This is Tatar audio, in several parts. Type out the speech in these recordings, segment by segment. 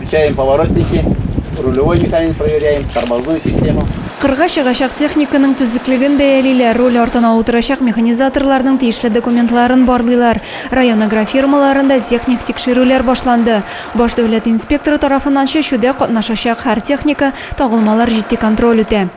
Включаем поворотники, рулевой механизм проверяем, тормозную систему. Кырга чыгачак техниканың төзеклеген бәялиләр, руль артына утырачак механизаторларның тиешле документларын барлыйлар. Район агрофирмаларында техник тикшерүләр башланды. Баш дәүләт инспекторы тарафыннан чәчүдә катнашачак һәр техника, тагылмалар җитди контроль үтә.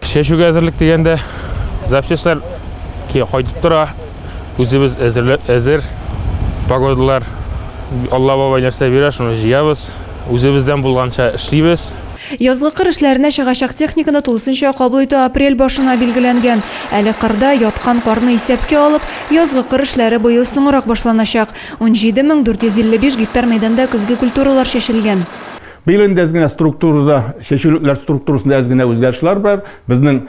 Чәчүгә әзерлек дигәндә запчастьләр кайтып тора. Үзебез әзер погодалар Алла бабай нәрсә бирә, шуны җыябыз. Үзебездән булганча эшлибез. Язгы кыр эшләренә чыгачак техниканы тулысынча кабул итү апрель башына билгеләнгән. Әле кырда яткан карны исәпкә алып, язгы кыр эшләре быел соңрак башланачак. 17 мең 455 гектар мәйданда көзге культуралар чәчелгән. Быел инде әз генә структурада, чәчүлекләр структурасында әз генә үзгәрешләр бар. Безнең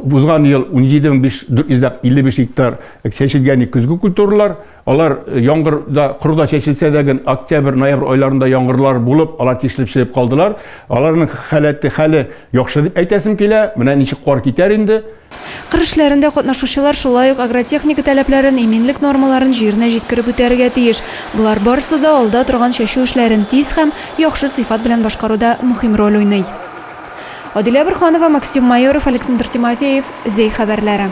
узган ел 17455 гектар чәчелгән көзге культуралар. Алар яңгырда, корда чәчелсә дә, октябрь, ноябрь айларында яңгырлар булып, алар тишелеп чыгып калдылар. Аларның халәте, хәле яхшы дип әйтәсем килә. Менә ничек кар китәр инде. Кыр эшләрендә катнашучылар шулай ук агротехника таләпләрен, иминлек нормаларын җиренә җиткереп үтәргә тиеш. Болар барысы да алда торган чәчү эшләрен тиз һәм яхшы сыйфат белән башкаруда мөһим роль уйный. Адилә Борһанова, Максим Майоров, Александр Тимофеев, Зәй хәбәрләре.